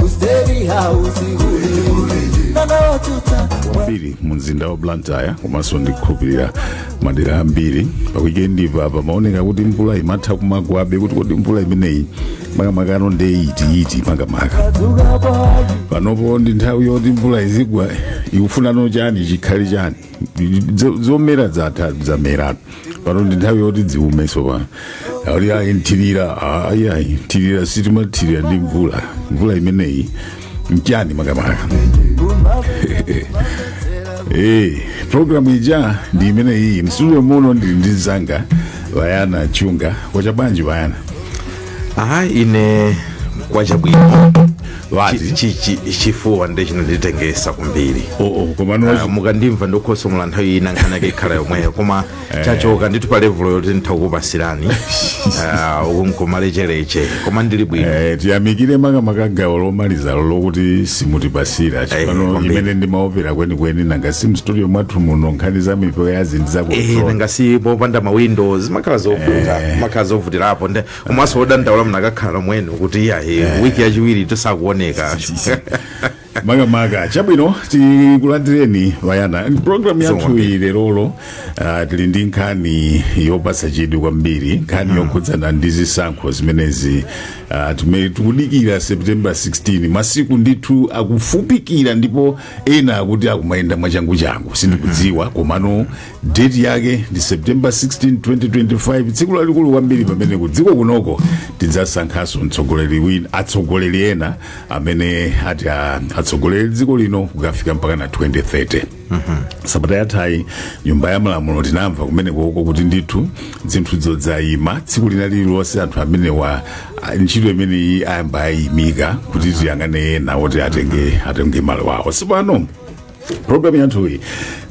ku State House kuli nyengo yotentha kwambiri mu mzinda wa blantyre komanso ndikhulupirira madera ambiri pakuyikendipa pamaoneka kuti mvula imatha kumagwabe kuti kodi mvula imeneyi makamakano nde iti iti makamaka tuka bwaji panopo ndi nthawi yoti mvula izigwa ikufunano chani chikhale chani Zo- zomera zatha zamera pano ndi nthawi yoti ziume tsopano ali ayi nthirira ayi ayi nthirira sitimathirira ndi mvula mvula imeneyi mchani makamaka Eh, programu ija ndi imeneyi mu studio muno ndili ndi anzanga vayana chunga kwacha bwanji vayana aha ine kwacha bwino Wazi. Chi- chi- chi- chifuwa nde chinanditengetsa kwambiri oh, oh, koma Ah, nozi mukandimva ndikutsokomola nthawi ina nkhani yake ikhala yomweyo koma chachoka ndithu pa level yoti nditha kukupatsirani ukumkumalechereche koma ndili bwino Eh, tiyamikire makamaka gawo lomalizalo lokuti simutipatsira chipano kwambiri. imene ndimaopera kwenikweni nanga si mu studio mwathu muno nkhani za mpweya ya zinthu za Eh, nanga si popanda mawindo zimakhala zovuta zimakhala zovutirapo nde komanso odandaula munakakhala omwe inu kuti iyayi wiki yachiwiri musakuoneka makamaka chabwino tikulandireni vayana programu yathu Zonke. iyi lerolo ah, tili ndi nkhani yopatsa chidwi kwambiri nkhani yokhudzana ndi zisankho zimenezi ah, tume- tikudikira september 16 masiku ndithu akufupikira ndipo ena akuti akumayenda mwachanguchangu sindikudziwa komano date yake ndi september 16 2025 tsiku lalikulu kwambiri pamene ku dziko kunoko tidzasankhanso atsogoleri ena amene ati a- atsogolere dziko lino kukafika mpaka na 2030 sabata yathayi nyumba ya malamulo tinamva kumene koko kuti ndithu zinthu zadzayima tsiku lina lililonse anthu amenewa a- ntchito imeneyi ayamba ayimika kuti tiyang'ane ena oti atenge atenge malo awo tsopano programu yathuyi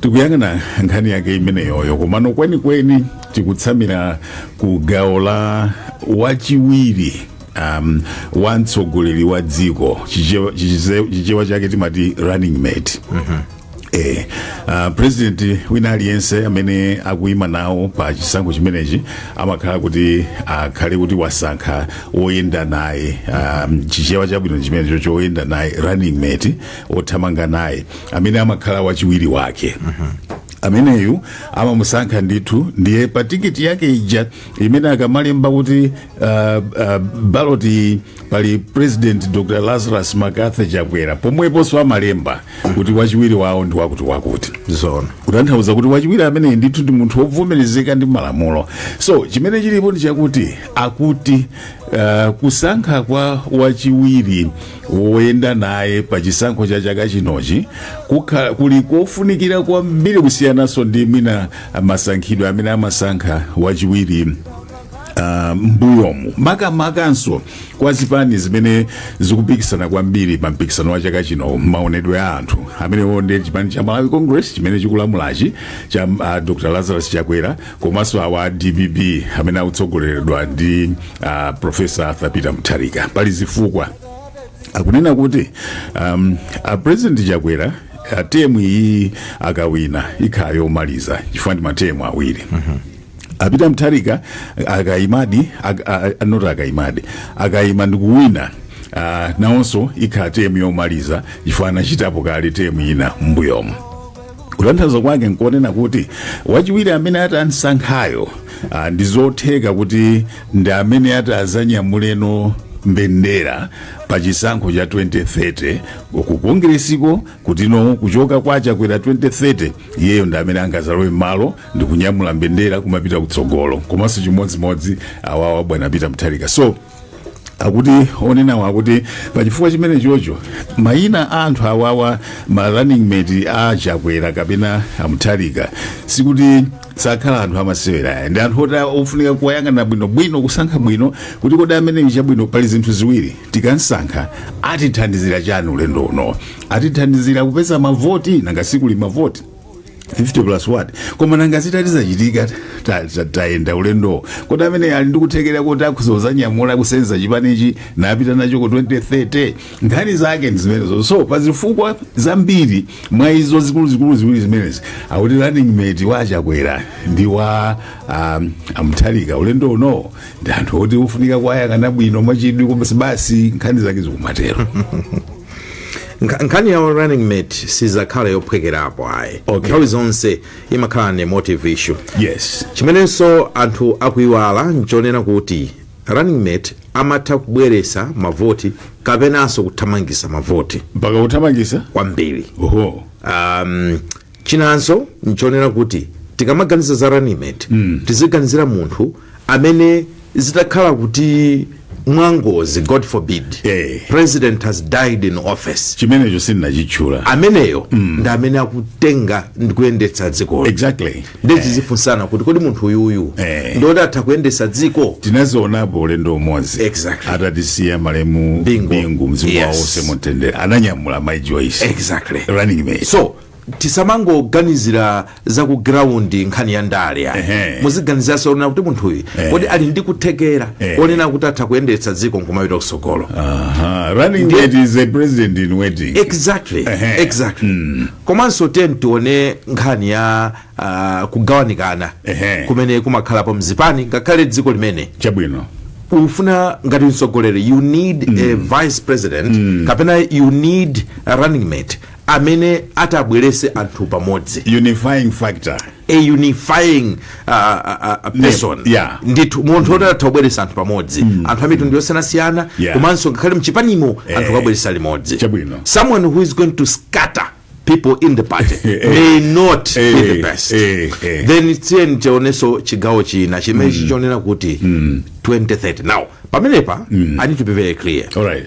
tikuyang'ana nkhani yake imeneyoyo komano kwenikweni tikutsamira ku gawo la wachiwiri um, wa mtsogoleri wa dziko Chichewa- chichize- chichewa chake timati running mate Eh, uh, president wina aliyense amene akuyima nawo pa chisankho chimenechi amakhala kuti akhale kuti wasankha woyenda naye um, chichewa chabwino chimenecho choyenda naye running mate wothamanga naye amene amakhala wachiwiri wake ameneyu amamusankha ndithu ndiye pa tikiti yake ija imene akamalemba kuti uh, uh, ballot iyi pali president dr lazarus mccarthy chakwera pomweponso amalemba kuti wachiwiri wawo ndi wakuti wakuti zona kutanthauza kuti wachiwiri ameneyi ndithu ndi munthu wovomerezeka ndi malamulo so chimene chilipo ndi chakuti akuti uh, kusankha kwa wachiwiri woyenda naye pa chisankho cha chaka chinochi kukhala kuli kofunikira kwambiri kusiyananso ndi mwina masankhidwe amene amasankha wachiwiri Uh, mbuyomu makamakanso kwa zipani zimene zikupikisana kwambiri pa mpikisano wa chaka chino maonedwe a anthu amenewo ndiye chipani cha malawi congress chimene chikulamulachi cha uh, dr lazarus chakwera komanso awa dpp amene akutsogoleredwa ndi uh, profesa arthur peter mutharika pali zifukwa akunena kuti um, a president chakwera temu iyi akawina ikhala yomaliza chifukwa ndi matemu awiri a pita mutharika akayimadi ak- a- a- not akayimadi akayima ndikuwina uh, nawonso ikhala temu yomaliza chifukwa anachitapo kale temu ina mbuyomu kutanthauza kwake nkuonena kuti wachiwiri amene ata amsankhayo ah, ndi zotheka kuti ndi amene ata azanyamuleno mbendera pa chisankho cha 2030 ku kongiresiko kutino kuchoka kwa chakwera 2030 iyeyo ndi amene angazalowe m'malo ndi kunyamula mbendera kumapita kutsogolo komanso chimodzimodzi awawa bwana pita mutharika so akuti onenawo akuti pachifukwa chimenechocho mayina a anthu awawa ma running mate a chakwera kapena amuthalika sikuti sakhala anthu amasewera ayi ndi anthu oti ofunika kuwayang'ana bwinobwino kusankha bwino kuti kodi ameneyu chabwino pali zinthu ziwiri tikamsankha atithandizira chani ulendo uno atithandizira kupeza mavoti nanga sikuli mavoti 50 plus 1 koma nanga zitati zachitika ta- ta- tayenda ulendowo kodi amene ali ndi kuthekera kuti akhoza kuzanyamula kusenza chipanichi napita nacho ku 2030 nkhani zake ndi zimenezo so pa zifukwa zambiri mwa izo zikuluzikulu ziwiri zimenezi akuti running mate wa chakwera ndi wa um, amuthalika ulendo uno ndi anthu oti ofunika kuwayang'ana bwino mwachidwi koma basi nkhani zake zikumatero Nkha- nkhani ya running mate sizakhala yophwekerapo ayi Okay. nthawi zonse imakhala an emotive issue yes chimenenso anthu akuiwala nchonena kuti running mate amatha kubweresa mavoti kapenanso kuthamangisa mavoti mpaka kuthamangisa kwambiri oho um, chinanso nchonena kuti tikamaganiza za running mate mm. tiziganizira munthu amene zitakhala kuti mwangozi god forbid Eh. president has died in office chimenecho sindinachitchula ameneyo mm. ndi amene akutenga ndi kuyendetsa dzikolo exactly ndiye tizifunsana kuti kodi munthu uyuyu Eh. ndiwoti atha kuyendetsa dziko tinazionapo ulendo umodzi Exactly. atatisiya malemu Bingu. bingu mzimu Yes. wawo uuse mumtendere ananyamula mai joyce exactly running mate so tisamangoganizira za ku ground nkhani ya ndale ayi. Ehe. muziganizaso onena kuti munthuyu Eh. kodi ali ndi kuthekera Eh. onena kuti atha kuyendetsa dziko nkumapita kusogolo Aha, running Ndiye- mate is a president in waiting exactly Ehe. exactly komanso then tione nkhani ya ah, kugawanikana Ehe. kumene kumakhalapo mzipani ngakhale dziko limene chabwino ufuna ngati mtsogoleri you need a vice president kapena you need a running mate amene atabwerese anthu pamodzi unifying factor a unifying uh, uh, uh, person yeah. ndithu munthu oti atha kubweresa anthu pamodzi mm. anthu amitundu yosiyanasiyana Yeah. komanso ngakhale mchipanimo anthu kuwabweresa limodzi Chabwino. someone who is going to scatter people in the party Eh. may not be the Eh, best eh, eh. then tiyeni tionenso chigawo china chimene chikunena kuti 2030 now pamenepa i need to be very clear All right.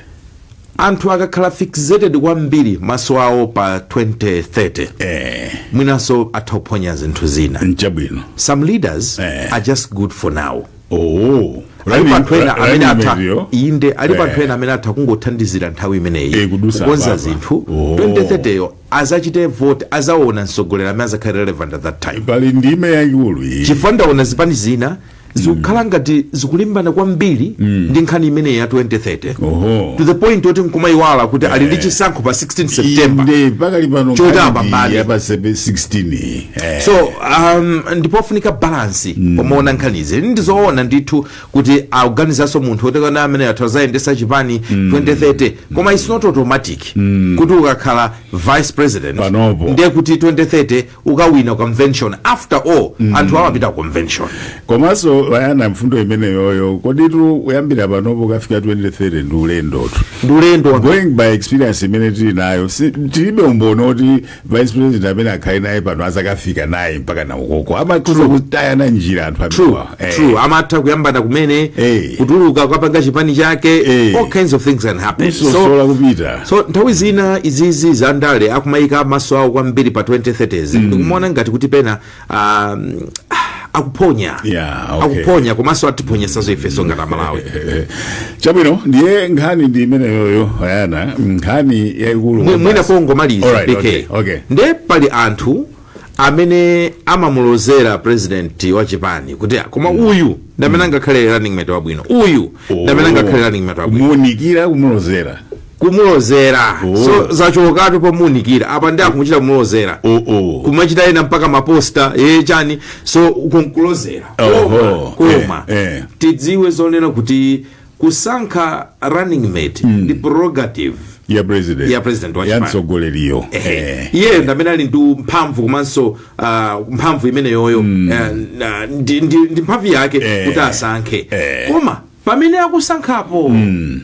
anthu akakhala fixated kwambiri maso awo pa 2030 eh mwinanso atha kuphonya zinthu zina nchabwino some leaders Eh. are just good for now oh alipo anthu ena amene atha inde alipo anthu ena amene atha kungothandizira nthawi imeneyi Eh, kudusa kukonza apapa. zinthu Oh. 2030 yo azachite vote azaona mtsogoleri amene azakhale relevant at that time pali ndime yaikulu iyi chifukwa ndaona zipani zina zikukhala ngati zikulimbana kwambiri ndi nkhani imeneyi ya 2030 oho to the point oti nkumayiwala kuti ali ndi chisankho pa 16 september inde pakali pano Choti nkhani apambane. ya pa sebe- 16 eh. so um, ndipofunika balance pomaona nkhanizi ndizoona ndithu kuti akuganizanso munthu oti kaya amene atazayendesa chipani 2030 koma it's not automatic kuti ukakhala vice president Panopo. ndiye kuti 2030 ukawina convention after all anthu amapita convention komanso vayana mfundo imeneyoyo koditu kuyambira panopo ukafika 2030 ndi ulendotu ndi ulendo wa- going by experience imene tili nayo si- tilibe umboni oti vice president amene akhale naye pano azakafika naye mpaka naye ukoko amakhoza kutayana njira anthu true amenewa. Eh. true amatha kuyambana kumene Eh. kutuluka kukapanga chipani chake Eh. all kinds of things can happen so kusosola kupita so nthawi zina izizi za ndale akumayika maso awo kwambiri pa 2030s mm. ndikumaona ngati kuti pena um, akuphonya Yeah, okay. akuphonya komanso atiphonyesaso ifeso ngati amalawi Eh, chabwino ndiye nkhani ndi imeneyoyo ayana nkhani yaikulu Mwi- mwina kwambasi. pongomaliza Alright, bk okay, okay. nde pali anthu amene amamulozera president wa chipani kuti "Ah, koma uyu ndamene angakhale running mate wabwino uyu ndamene angakhale running mate wabwino kumuunikira kumulozera kumulozera Oh. so zachokatu pomuunikira apa nde akumuchita kumulozera oh, oh. kumachita ena mpaka maposta ye chani so kumkulozera Oho, koma eh, eh. tidziwe zonena kuti kusankha running mate mm. ndi prerogative ya president ya president wa ya mtsogoleriyo iyeyo eh. ndamene ali ndi mphamvu komanso uh, mphamvu imeneyoyo mm. uh, ndi, ndi, ndi mphamvu yake eh. kuti asankhe eh. koma pamene akusankhapo mm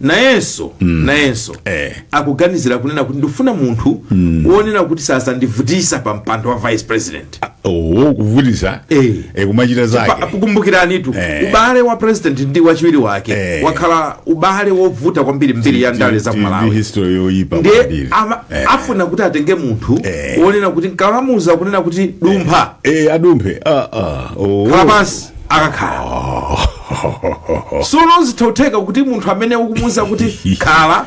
nayenso mm. nayenso eh. akuganizira kunena kuti ndifuna munthu mm. wonena kuti sazandivutisa pa mpando wa vice president oho kuvutisa Eh. eh, kumachita Pa- zake Tikumbukiranitu Eh. ubale wa president ndi wachiwiri wake Eh. wakhala ubale wovuta kwambiri mbiri ya ndale za Ti- ti- kumalawi history yoyipa ndiye kwambiri. ama- Eh. afuna kuti atenge munthu Eh. wonena kuti nkamuuza kunena kuti dumpha Eh, adumphe Ah, ah. Oh. khala pansi akakhala sono zithotheka kuti munthu amene ukumuuza kuti khala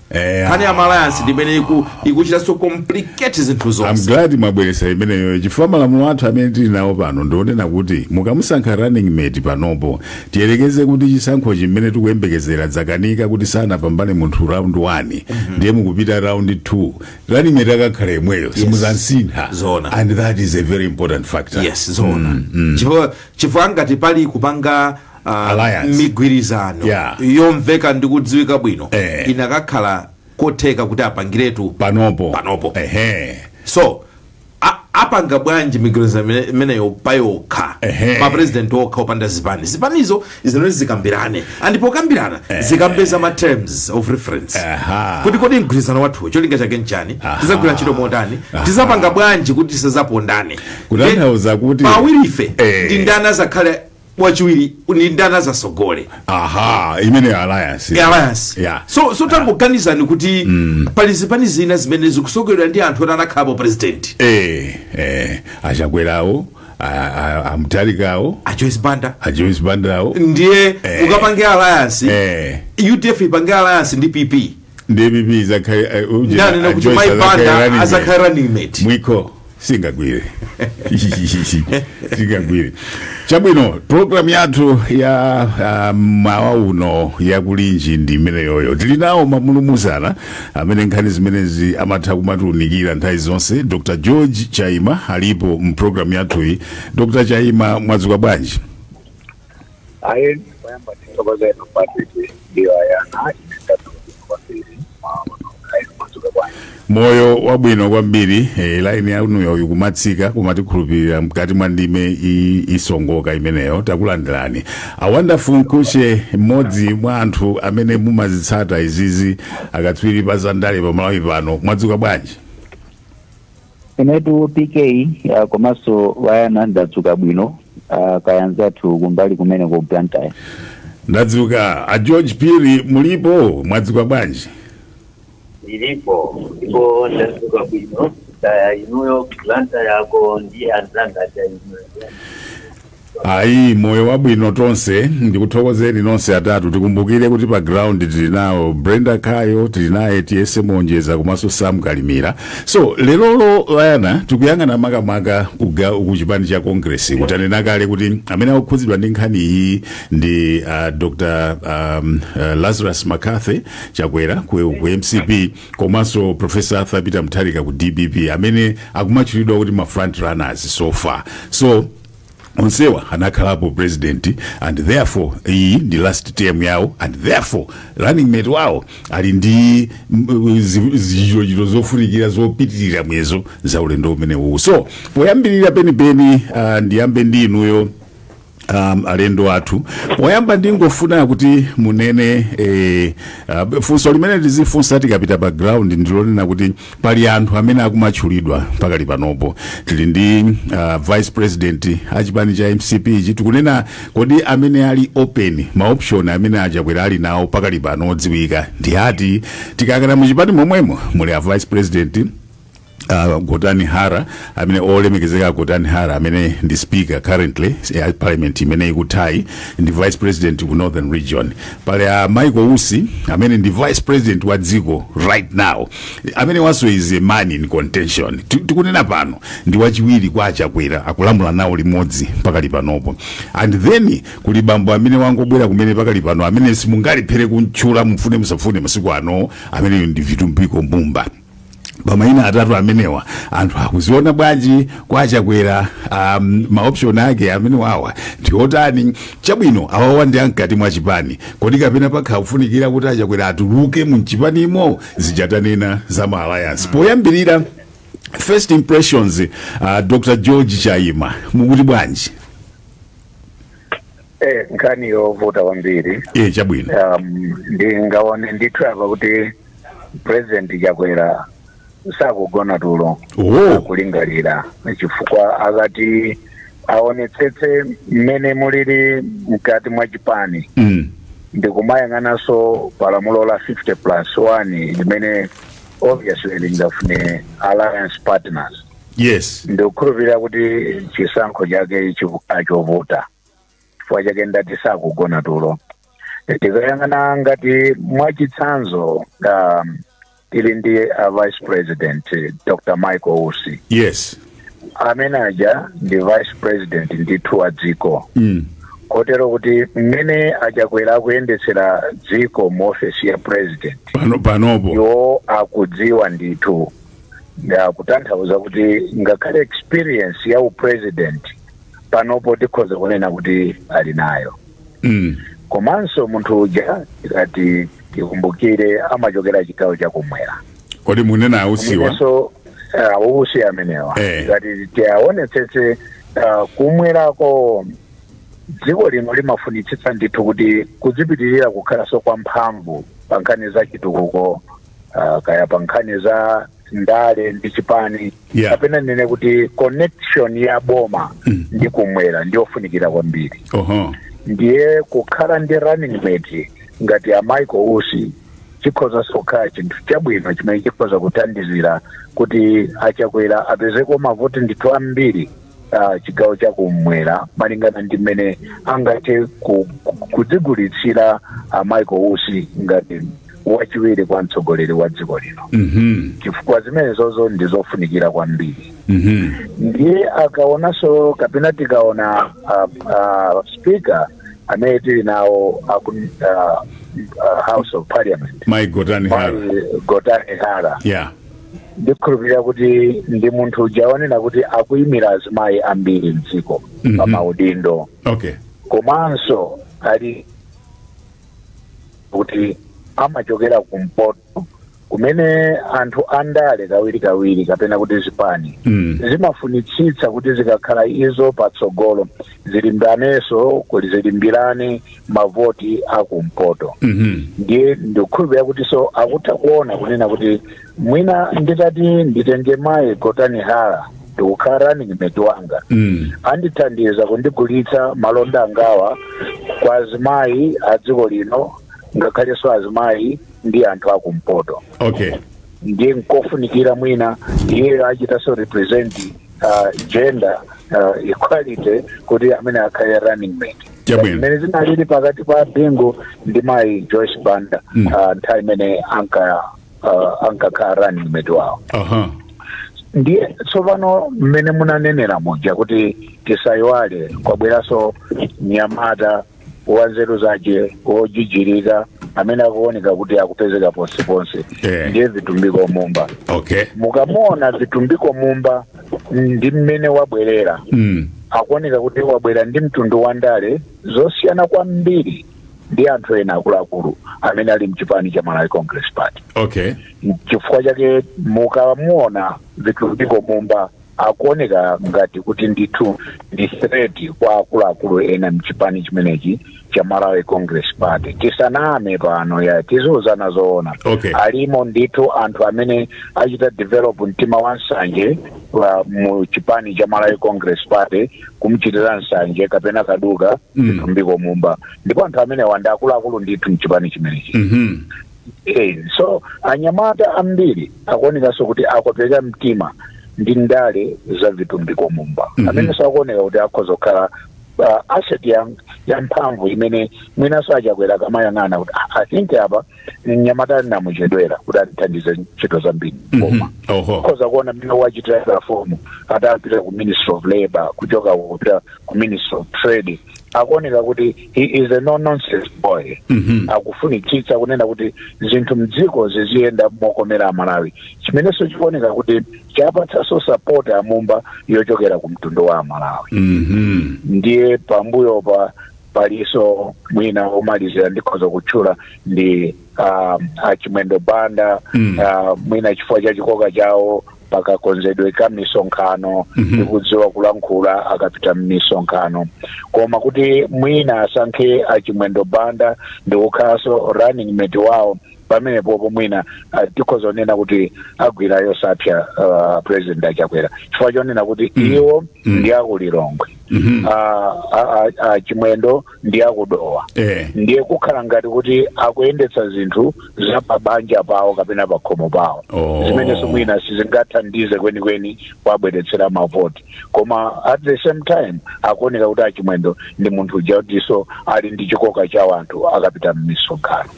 Eh, nkhani ya alliance ndi imene iku- ikuchita so complicate zinthu I'm zonse glad mwabweretsa imeneyo chifukwa malamulo athu amene tili nawo pano ndionena kuti mukamusankha running mate panopo tiyerekeze kuti chisankho chimene tikuyembekezera zakanika kuti sanapambane munthu round 1 ndiye mukupita round 2 running mate akakhala yemweyo simuzamsintha Zoona. and that is a very important factor yes zoona chifukwa chifukwa ngati pali kupanga ah, Alliance. migwirizano Yeah. yomveka ndi kudziwika bwino Eh. inakakhala kotheka kuti apangiretu panopo Panopo. ehe so a- apanga bwanji migwirizano imene- imeneyo payokha Ehe. mapresidenti okha opanda zipani zipanizo zinati zikambirane and pokambirana zikapeza ma terms of reference Aha. kuti kodi mgwirizano wathu cholinga chake nchani tizagwira ntchito motani tizapanga bwanji kuti tisazapondane Kutanthauza kuti- pawirife Eh. ndi ndani azakhale wachiwiri ndi ndani azasogole aha imeneyo alliance ya alliance Yeah. so so tangoganizani kuti pali zipani zina zimene zikusogoleredwa ndi anthu oti anakhalapo president eh eh a Chakwerawo a- a- a Mutharikawo a Joyce Banda a Joyce Bandawo ndiye Eh. ukapange alliance eh UDF ipange alliance ndi PP DPP izakhale uh, ujira, ndanena uh, kuti Joyce mai azakhale running Banda mate. azakhala running mate mwiko singagwire singagwire chabwino programu yathu ya ah, mmawa uno ya Kulinji ndi imeneyoyo tili nawo mamulumuzana amene nkhani zimenezi amatha kumatiunikira nthawi zonse Dr George Chaima alipo mpulogalamu yathuyi Dr Chaima mwadzuka bwanji Ayi ndikoyamba tithokoze inu Patrick ndiyo ayana ine ndathokoza kwambiri maono ayi mwadzuka bwanji moyo wabwino kwambiri eh, laini yanuyo ikumatsika koma tikhulupirira mkati mwa ndime i- isongoka imeneyo takulandirani a Wonderful Mkhutche mmodzi mwa anthu amene mumazitsata izizi akatswiri pa zandale pa Malawi pano mwadzuka bwanji Inetu PK uh, komanso a Yona ndadzuka bwino uh, kaya anzathu kumbali kumene ku Blantyre. ndadzuka a george Phiri mulipo mwadzuka bwanji Ndilipo ndipo ndadzuka bwino kaya inuyo Blantyre yako ndi anzanga cha inuyo. Ayi, moyo wabwino tonse. Ndikuthokozeni nonse atatu. Tikumbukire kuti pa ground tili nawo Brenda Kayo, tili naye Tiyese Monjeza komanso Sam Kalimbira. So lerolo a Yona tikuyang'ana makamaka kuga kuchipani cha Congress. Kutanena kale kuti amene akukhudzidwa ndi nkhani iyi ndi uh, Dr. Um, uh, Lazarus McCarthy Chakwera ku, ku MCP komanso Professor Arthur Peter Mutharika ku DPP amene akumatchulidwa kuti ma front runners so far. So onsewa anakhalapo president and therefore iyi ndi last term yawo and therefore running mate wawo ali ndi mm, zi- zichitochito zofunikira zopitirira muyezo za ulendo umene uwu so poyambirira penipeni uh, ndiyambe ndi inuyo um, alendo athu poyamba ndingofuna kuti munene eh, uh, funso limene tizifunsa tikapita pa ground ndilonena kuti pali anthu amene akumatchulidwa pakali panopo tili ndi uh, vice president achipani cha mcp ichi tikunena kodi amene ali open maoption amene a Chakwera ali nawo pakali pano odziwika ndi ati tikayang'ana mu chipani momwemo muli a vice president uh, Gotani Hara amene olemekezeka Gotani Hara amene ndi speaker currently ya parliament imene ikuthayi ndi vice president ku northern region pali a Michael Usi amene ndi vice president wa dziko right now amene awanso is a man in contention Ti- tikunena pano ndi wachiwiri kwa a Chakwera akulamula nawo limodzi pakali panopo and then kuli bambo amene wangobwera kumene pakali pano amene simungalephere kumtchula mufune musafune masiku ano ameneyo ndi Vitumbiko Mumba pamaina atatu amenewa anthu akuziona bwanji kwa a Chakwera um, maoption ake amene awawa ndiotani Chabwino awawa ndi amkati mwa chipani kodi kapena pakhala kufunikira kuti a Chakwera atuluke mumchipanimo zija tanena za ma alliance poyambirira first impressions uh, Dr. George Chaima mukuti bwanji Eh, nkhani yovuta kwambiri e chabwino um, ndingaone ndithu apa kuti president Chakwera sakugona tulo Oh. akulingalira chifukwa akati aonetsetse mmene mulili mkati mwa chipani Mm. ndikumayang'ananso palamulo la 50 plus 1 limene obviously lingafune alliance partners Yes. ndikukhulupirira kuti chisankho chake chiku- nchovuta chifukwa chake ndati sakugona tulo tikayang'ana ngati mwachitsanzo um, tili ndi a vice president eh, dr michael usi yes amene aja ndi vice president ndithu wa dziko mm. kotero kuti mmene achakwera kuyendetsera dziko mu ofesi ya president panopo iwo akudziwa ndithu Ya, kutanthauza kuti ngakhale experience ya upresident panopo tikhoza kunena kuti ali nayo Mm. komanso munthu uja tikati tikumbukire amachokera chigawo chakumwera kodi mukunena a Usiwa Ndiponso, a Usi amenewa Eh. tikati tiaonetsetse ah, kumwerako dziko lino limafunitsitsa ndithu kuti kudzipitirira kukhalanso kwa mphamvu pa nkhani za chitukuko ah, kaya pa nkhani za ndale ndi chipani Yeah. kapena ndinene kuti connection ya boma Mm. ndi kumwera ndiyofunikira kwambiri oho ndiye kukhala ndi running mate ngati a michael usi chikhoza sokhala chinthu chabwino chimene chikhoza kuthandizira kuti achakwera apezeko mavoti ndithu ambiri ah, chigawo cha kumwera malingana ndi mmene angathe ku- ku- kudzigulitsira a michael usi ngati wachiwiri kwa mtsogoleri wa dziko lino Mhm. chifukwa zimenezozo ndi zofunikira kwambiri Mhm. ndiye akaonanso kapena tikaona uh, uh, speaker amene tili nawo aku, uh, uh, house of parliament Mai Gotani Hara. Mai gotani hara Yeah. ndikhulupirira kuti ndi munthu uja wonena kuti akuyimira azimayi ambiri mdziko Mhm. pa maudindo Okay. komanso ali kuti amachokera kumpoto kumene anthu andale kawirikawiri kapena kuti zipani Mm. zimafunitsitsa kuti zikakhala izo patsogolo zilimbanenso kuti zilimbirane mavoti akumpoto Mhm. ndiye ndikukhulupirira kuti so akutha kuona kunena kuti mwina nditati nditenge mayi gotani hara ndikukhala running mate wanga Mm. andithandiza kundigulitsa malonda angawa kwa azimayi a dziko lino ngakhalenso azimayi ndi anthu akumpoto okay ndiye nkofunikira mwina iyeyo achitaso represent uh, gender uh, equality kuti amene akhale running mate Chabwino. mmene zinalili pakati pa bingu ndi mayi joyce banda Mm. uh, nthawi imene anka uh, ankakhala running mate wawo aha ndiye tsopano mmene munanenera muja kuti tisayiwale kwabweranso mnyamata wa nzeru zake wojijirika amene akuoneka kuti akupezeka ponseponse Eh. ndiye vitumbiko mumba okay mukamuona vitumbiko mumba ndi mmene wabwerera mm. akuoneka kuti wabwera ndi mtundu wa ndale zosiyana kwambiri ndi anthu ena akuluakulu amene ali mchipani cha malawi congress party okay chifukwa chake mukamuona vitumbiko mumba akuoneka ngati kuti ndithu ndi threat kwa akuluakulu ena mchipani chimenechi cha malawi congress party tisaname pano ya tiziuzana zoona Okay. alimo ndithu anthu amene achita develop mtima wa nsanje mu chipani cha malawi congress party kumchitira nsanje kapena kaduka Mm. vitumbiko mumba ndipo anthu amenewa ndi akuluakulu ndithu mchipani chimenechi Mhm. Eh, so anyamata ambiri akuonekanso kuti akopeka mtima ndi ndale za vitumbiko mumba Mhm. amenenso akuoneka kuti akhoza kukhala uh, asset ya, ya mphamvu imene mwinanso achakwera akamayang'ana kuti "Ah, i think apa mnyamatayu ndinamuchedwera kuti atithandize ntchito zambiri koma akhoza kuona mmene wachitira perform atapita ku ministry of labor kuchoka kupita ku ministry of trade akuoneka kuti he is a no nonsense boy akufunitsitsa kunena kuti zinthu mdziko ziziyenda mokomera amalawi chimenenso chikuoneka kuti chapatsanso support amumba yochokera ku mtundu wa amalawi Mhm. ndiye pambuyo pa palinso mwina womalizira ndikhoza kutchula ndi um, achimwendo banda Mm. uh, mwina chifukwa cha chikoka chawo pakakonzedwe ka misonkhano Mhm. ndikudziwa kulankhula akapita mmisonkhano koma kuti mwina asankhe achimwendo banda ndikukhalanso running mate wawo pamenepopo mwina ah, tikhoza kunena kuti agwira yosapsa ah, president achakwera chifukwa chonena kuti iwo ndi akulilongwe Ah, ah, ah, ah, chimwendo ndi akudowa Eh. ndiye kukhala ngati kuti akuyendetsa zinthu za pabanja pawo kapena pakhomo pawo Oh. zimenenso mwina sizingathandize kwenikweni kuwabweretsera mavoti koma at the same time akuoneka kuti achimwendo ndi munthu uja kutinso ali ndi chikoka cha wanthu akapita mmisonkhano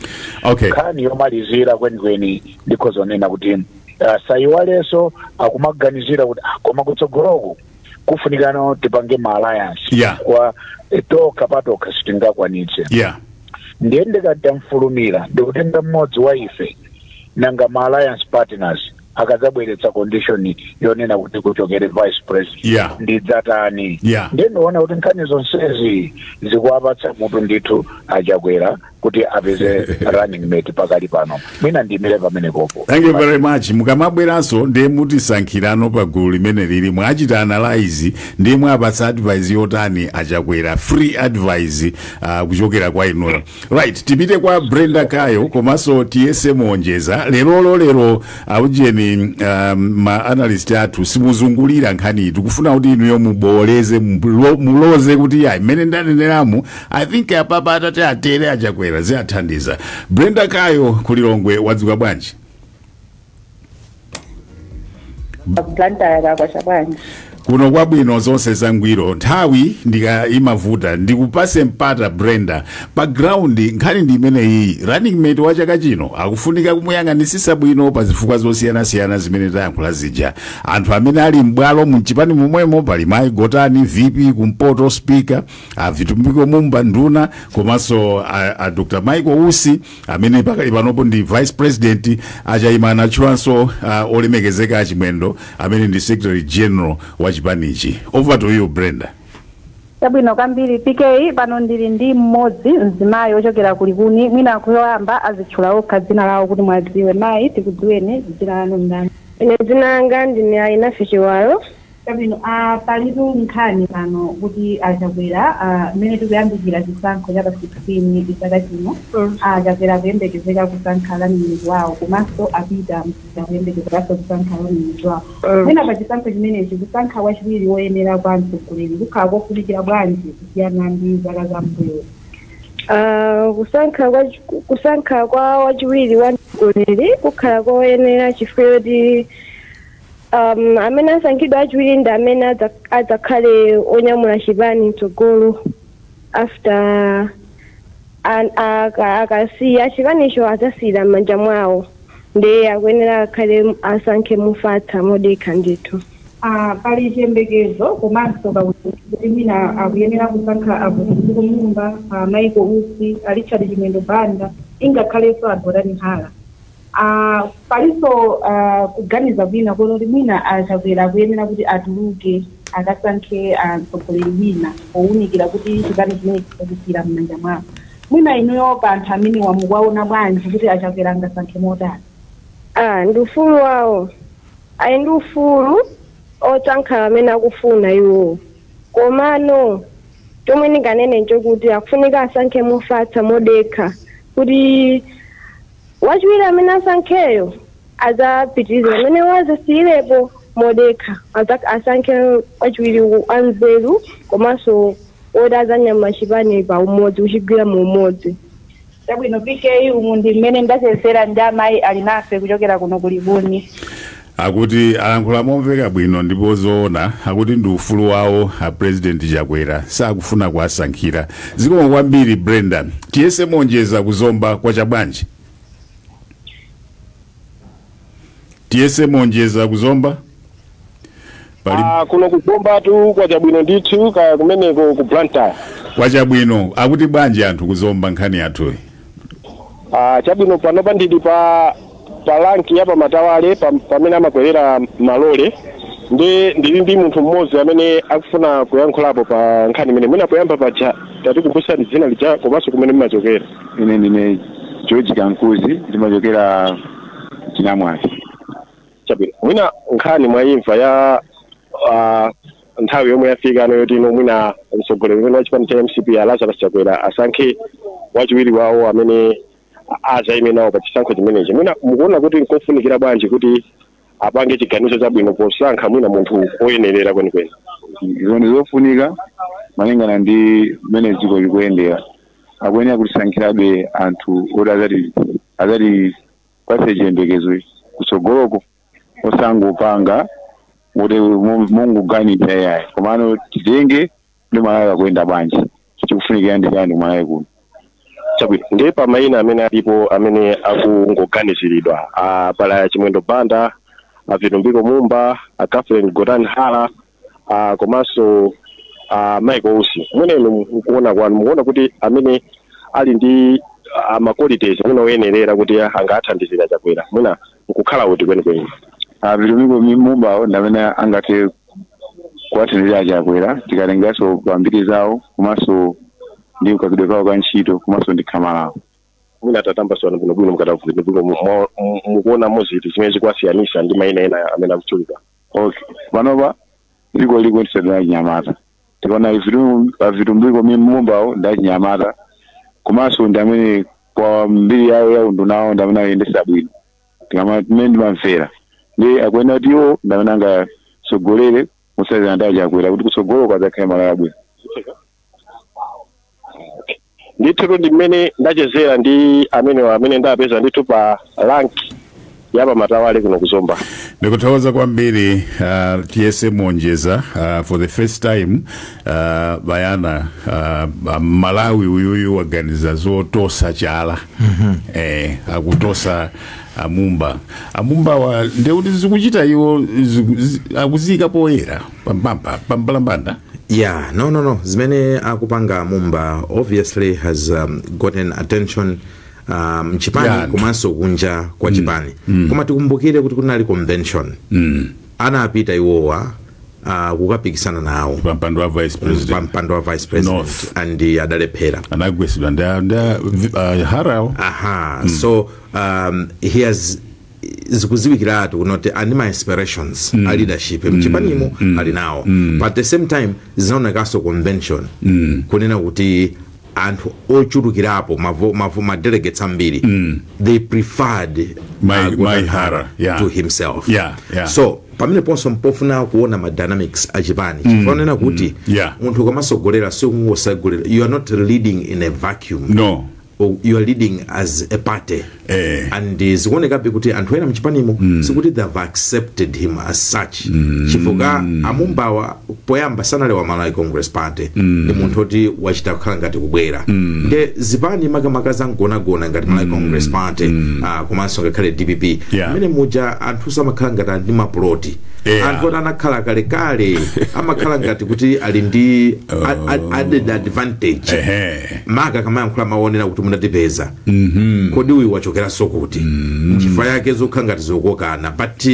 okay nkhani yomalizira kwenikweni ndikhoza kunena kuti uh, sayiwalenso akumaganizira kuti ah, koma kutsogoloku kufunikano tipange ma alliance Yeah. kwa eh, tokha patokha sitingakwanitse yeah ndiye ndikatamfulumira ndikutenga mmodzi wa ife nanga ma alliance partners akadzabweretsa condition yonena kuti kuchokere vice president Yeah. ndidzatani Yeah. ndiye ndiona kuti nkhani zonsezi zikuwapatsa mutu ndithu achakwera kuti apeze running mate pakali pano mwina ndiimire pamene popo thank you very much mukamabweranso ndiye mutisankhirano pa gulu limeneli mwachita analyze ndiye mwapatsa advice yotani achakwera free advice uh, kuchokera kwa inuyo right tipite kwa brenda kayo komanso Tiyese Monjeza lerolo lero aujeni um, ma analyst athu simukuzungulira nkhaniyi tikufuna kuti inuyo mubooleze mulo- muloze kuti ayi mmene ndaneneramu i think apapa atati atere achakwera ziathandiza brenda kayo ku Lilongwe wadzuka bwanji blantyre kakwacha bwanji kuno kwabwino zonse zangwiro nthawi ndi kaimavuta ndikupase mpata brenda pa ground nkhani ndi imeneyi running mate wa chaka chino akufunika kumuyang'anitsitsa bwino pa zifukwa zosiyanasiyana zimene tayankhula zija anthu amene ali m'bwalo mchipani momwemo pali mayi gotani vp kumpoto speaker a vitumbiko mumba nduna komanso a, a dr michael usi amene pakali panopo ndi vice president a Chayima anatchulanso uh, olemekezeka achimwendo amene ndi secretary general wa chipanichi over to you brenda chabwino kwambiri pk pano ndili ndi mmodzi mzimayi ochokera ku Likuni mwina poyamba azitchula okha dzina lawo kuti mwadziwe mayi tikudziweni dzina lanu ndani ine dzina langa ndine Alinafe chiwalo Chabwino a palitu nkhani pano kuti a Chakwera a mmene tikuyandikira chisankho cha pa 16 chaka chino a Chakwera akuyembekezeka kusankha running mate wawo komanso a Peter Mutharika akuyembekezekanso kusankha running mate wawo. Mwina pa chisankho chimenechi kusankha wachiwiri woyenera kwa mtsogoleri kukhala kofunikira bwanji kusiyana ndi zaka za m'mbuyozi? A kusankha kwa kusankha kwa wachiwiri wa mtsogoleri kukhala koyenera chifukwa choti. Um, amene asankhidwe achiwiri ndi amene adza- adzakhale onyamula chipani mtsogolo after an- aka- akasiya chipanicho adzasiyira m'manja mwawo ndiye akuyenera akhale asankhe mofatsa modekha ndithu Ah, pali chiyembekezo komanso kakuti kuti mwina akuyenera kusankha a Vitumbiko Mumba ah, Michael Usi a richard chimwendo banda ingakhalenso a Gotani Hara Ah, palinso ah, kuganiza kwina kuona kuti mwina a chakwera akuyenera kuti atuluke akasankhe ah, mtsogoleri wina powunikira kuti chipani chimenechi akusiyira m'manja mwawo mwina inuyo pa anthu amenewa mukuwaona bwanji kuti achakwera angasankhe motani Ah, ndi ufulu wawo ali ndi ufulu osankha amene akufuna iwowo komano chomwe ndinganene nchokuti akufunika asankhe mofatsa modekha kuti Wachiwiri amene asankheyo adzapitirize pamene adzasiyirepo modekha adzak asankhe wachiwiri wanzeru komanso woti adzanyamula chipani pa umodzi kuchigwira mu umodzi. Chabwino PK umu ndi mmene ndachezera ndi amayi Alinafe kuchokera kuno ku Likuni. Akuti alankhula momveka bwino ndipo zoona akuti ndi ufulu wawo a president Chakwera sakufuna kuwasankhira. Zikomo kwambiri Brenda. Tiyese monjeza ku Zomba kwa Chabwanji. Tiyese monjeza ku Zomba. Pali- Ah, kuno ku Zombatu kwacha bwino ndithu kaya kumeneko ku blantyre kwacha bwino akuti bwanji anthu ku Zomba nkhani yathuyi Ah, chabwino panopa ndili pa pa lanki ya pa Matawale pam- pamene amakwerera malole ndi ndili ndi munthu mmodzi amene akufuna kuyankhulapo pa nkhani imeneyi mwina poyamba paja tatikumbutsani dzina lija komanso kumene mumachokera ine ndine george kankuzi ndimachokera chinamwali chabwino mwina nkhani mwaimva ya ah, nthawi yomwe yafika pano yoti ino mwina mtsogoleri uyu wa chipani cha mcp a lazarus chakwera asankhe wachiwiri wawo amene adzaime nawo pa chisankho chimenechi mwina mukuona kuti nkofunikira bwanji kuti apange chiganizo chabwino posankha mwina munthu oyenerera kwenikweni izo ndi zofunika malingana ndi mmene dziko likuyendera akuyenera kutisankhirabe anthu oti azati azati patse chiyembekezo kutsogoloko osangopanga kuti mu- mungoganiza yayi komano titenge ndi malawi akuyenda bwanji chikufunikira ndi chani ku malawi kuno chabwino ndiye pa mayina amene alipo amene akungoganiziridwa a pali a chimwendo banda a vitumbiko mumba a catherine gotani hara uh, komanso uh, Mike Usi mwina inu mukuona kwanu mukuona kuti amene ali ndi uh, maqualities mwina oyenerera kuti angathandizire a chakwera mwina nkukhala uti kwenikweni a vitumbiko mumbawo ndamene angathe kuwathandizira a chakwera tikatengeranso pambiri zawo komanso ndi kagwiridwe kawo ka ntchito komanso ndi khama lawo mwina tatambasulani bwinobwino mukatavuti ndipo mukuona ndi ziti zimene zikuwasiyanitsa ndi maina ena amene akutchulika ok panopa dziko likuyendetsedwa ndi achinyamata tikaona a vitumbiko mumbawo ndi achinyamata komanso ndi amene kwa mbiri yawo ya undunawo ndi amene ayendetsa bwino tikamamene ndimamvera ndi akuyenera kuti iwo ndi amene angatsogolere mothandizana ndi a chakwera kuti kutsogolo kudzakhale malawi wabwino ndithu ndi mmene ndachezera ndi amenewa amene ndapeza ndithu pa rank ya pa Matawale kuno ku Zomba ndikuthokoza kwambiri uh, tiyese monjeza uh, for the first time uh, bayana uh, mmalawi uyuyu waganiza zotosa chala mm-hmm. eh, akutosa a mumba a mumbawa ndiye kuti zikuchita iwo ziku- zi- akuziyika poyera Poyera, pambalambanda. yeah no no no zimene akupanga mumba obviously has um, gotten attention um, mchipani Yeah. komanso kunja kwa chipani koma tikumbukire kuti kunali convention anapita iwowa uh, kukapikisana nawo Pampando wa vice pa president. mpando wa vice president North. and uh, adalephera Anagwetsedwa ndi ndi uh, Hara. aha so um, he has zikudziwikiratu kunoti ali ndi ma aspirations a leadership mchipanimo ali nawo but at the same time zinaonekanso convention kunena kuti anthu ochulukirapo mavo- mavo- ma delegates ambiri they preferred Mai- uh, Gordon Mai Hara, yeah. to himself Yeah, yeah. so pamene ponso m'pofuna kuona ma dynamics a chipani chifukwa kunena kuti yeah. munthu ukamatsogolera siungotsogolera you are not leading in a vacuum no u- you are leading as a party Eh. and eh, zikuonekabe kuti anthu ena mchipanimo mm. sikuti they have accepted him as such mm. chifukwa a Mumbawa poyamba sanali wa malawi congress party mm. ndi munthu oti wachita kukhala ngati kubwera mm. nde zipani makamaka zankhonagona ngati malawi mm. congress party mm. uh, komanso ngakhale dpp Yeah. mmene muja anthu samakhala ngati ali ndi mapuloti Yeah. anthu oti anakhala kalekale amakhala ngati kuti ali ndi a- a- added advantage Ehe. moti akamayankhula mawu onena kuti munatipeza kodi uyu wachokeranso kuti nchifukwa chake zokhala ngati zokokana but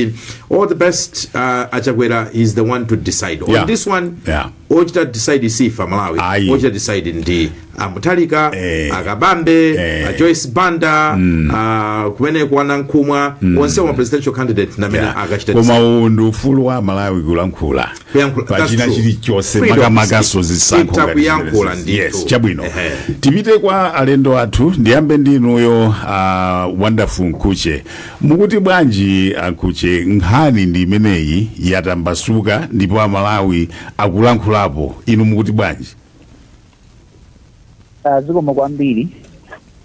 uh, all the best uh, a Chakwera is the one to decide on Yeah. this one Yeah. ochita decide si ife amalawi Ayi. ochita decide ndi a Mutharika Eh. a Kabambe Eh. a joyce banda uh, kumeneku a Nankhumwa onsewa presidential candidate ndi amene Yeah. akachita koma uwu ndi ufulu wa amalawi kulankhula kuyankhula pa that's true. china chilichonse Freedom makamakanso is- zisankho itha ngati kuyankhula zimenezi. ndithu. yes chabwino Ehe. tipite kwa alendo athu ndiyambe ndi inuyo uh, wonderful Mkhutche mukuti bwanji a Mkhutche nkhani ndi imeneyi yatambasuka ndipo amalawi akulankhulapo inu mukuti bwanji Ah, zikomo kwambiri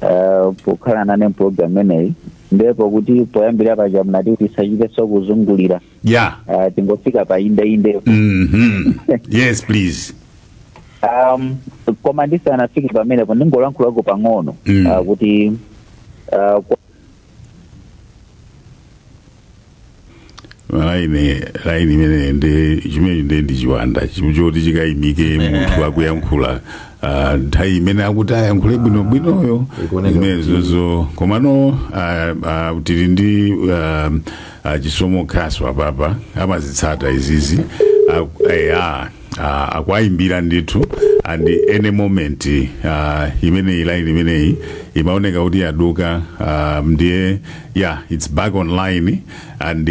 ah, pokhala nane mpulogalamu imeneyi ndipo kuti poyambira paja munati tisachitenso kuzungulira yeah Ah, tingofika pa inde inde mhm yes please um, koma ndisanafike pamenepo ndingolankhulako pang'ono Mm. ah, kuti ah, kwa- malaini laini imene ndi chimene ndi ndi chiwanda chim- choti chikayimike munthu akuyankhula ah, nthawi imene akuti ayankhule bwino bwinoyo Ikuoneka zimenezozo komano ah, ah, tili ndi ah, achisomo khasu apapa amazitsata izizi Ak- eh, ah, ah, akuayimbira ndithu and any moment ah, imeneyi line imeneyi imaoneka kuti yaduka ah, ndiye yeah it's back online and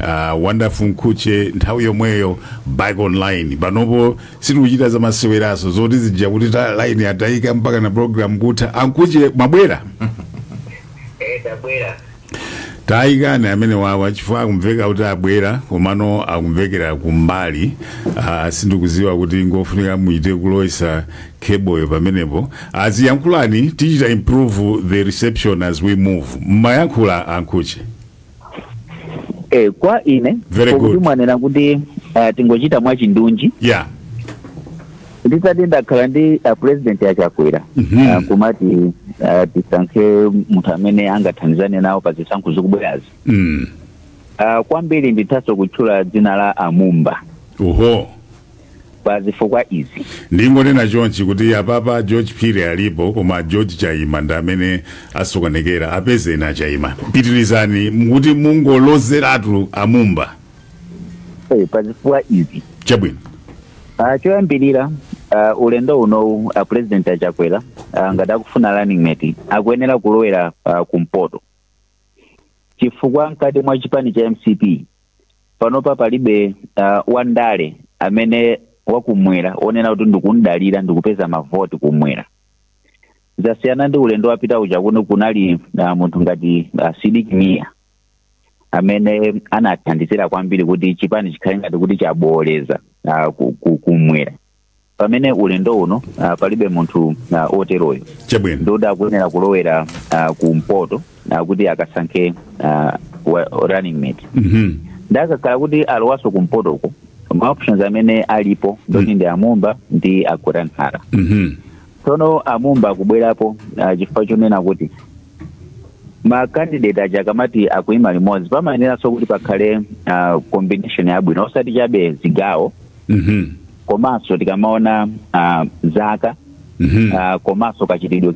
ah, wonderful mkhutche nthawi yomweyo back online panopo sitikuchita za maseweraso zoti zija kuti ta line yatayika mpaka na program kutha amkhutche mwabwera Eh, tabwera. tayikani amenewawa chifukwa akumveka kuti abwera komano akumvekera kumbali ah, sindikuziwa kuti ngofunika muite kulowetsa kheboyo pamenepo ah, ziyankhulani tichita improve the reception as we move mmayankhula amkhutche eh, kwa ine Very kuti good. mwanena kuti uh, tingochita mwachindunji yeah nditati ndakhala ndi a president achakwera Mhm. ah, kumati ah, tisankhe munthu amene angathandizane nawo pa zisankho zikubwerazi mm. Ah, kwambiri ndithaso kutchula dzina la amumba oho pa zifukwa izi ndingonena chonchi kuti apapa george phiri alipo koma george chaima ndi amene asokonekera apezeni achaima pitirizani mukuti mungolozeratu amumba Eh, pa zifukwa izi chabwino Ah, choyambirira ah, ulendo unowu a president achakwera ah, ngati akufuna running mate akuyenera kulowera ah, kumpoto chifukwa mkati mwa chipani cha mcp panopa palibe ah, wandale amene wakumwera onena kuti ndikumdalira ndikupeza mavoti kumwera zasiyana ndi ulendo wapita uja kuno kunali ah, munthu ngati ah, sidik mia amene anathandizira kwambiri kuti chipani chikhale ngati kuti chabooleza ah, ku- ku- kumwera pamene ulendo uno ah, palibe munthu ah, oteroyo chabwino ndiyedi akuyenera kulowera ah, kumpoto ah, kuti akasankhe ah, wa- running mate Mhm. nde akakhala kuti alowaso kumpotoko ma options amene alipo ndoti ndi amumba ndi agotani hara Mhm. Tsono a Mumba akubwerapo ah, chifukwa chonena kuti ma candidate aja akamati akuima limodzi pamayeneranso kuti pakhale ah, combination yabwino osati chabe zigawo Mhm. komanso tikamaona ah, zaka Mhm. ah, komanso kachitidwe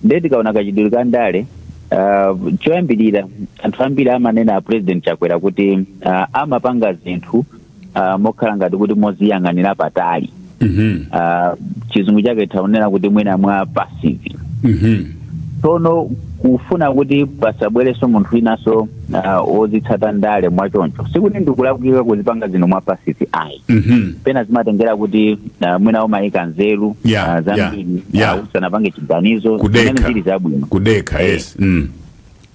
ndiye tikaona kachitidwe ka ndale uh, choyambirira anthu ambiri amanena a president chakwera kuti uh, amapanga zinthu uh, mokhala ngati kuti moziyang'anira patali Mhm. uh, chizungu chake titha kunena kuti mwina mwa passive Mhm. tsono kufuna kuti pasabwerenso munthu winanso uh, ozitsata ndale mwachoncho sikuti ndikulakwika kuzipanga zinthu mwa passive ayi Mhm. pena zimatengera kuti uh, mwina amayika nzeru Yeah, uh, zambiri yeah, yeah. uh, asanapange chiganizo Kudekha. zimene zili zabwino kudekha Eh. yes mm.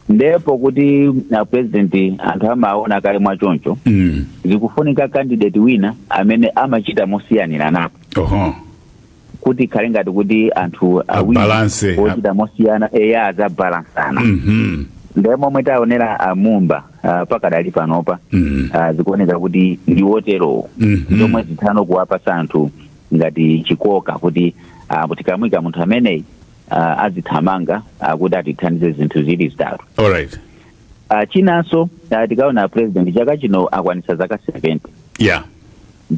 ndipo kuti uh, apresident anthu amaona kale mwachoncho Mm. zikufunika candidate wina amene amachita mosiyaniranapo oho kuti ikhale ngati kuti anthu awiri Abalance. ochita mosiyana eya azabalansana Mhm. ndiye momwe taonera amumba ah, pakadali panopa Mm. ah, zikuoneka kuti ndi woterowo Mhm. zomwe zithano kuwapasa anthu ngati chikoka kuti ah, tikamuika munthu ameneyi ah, azithamanga ah, kuti atithandize zinthu zili zitatu All right. Ah, chinanso ah, tikaona apresident chaka chino akwanitsa zaka 70 yeah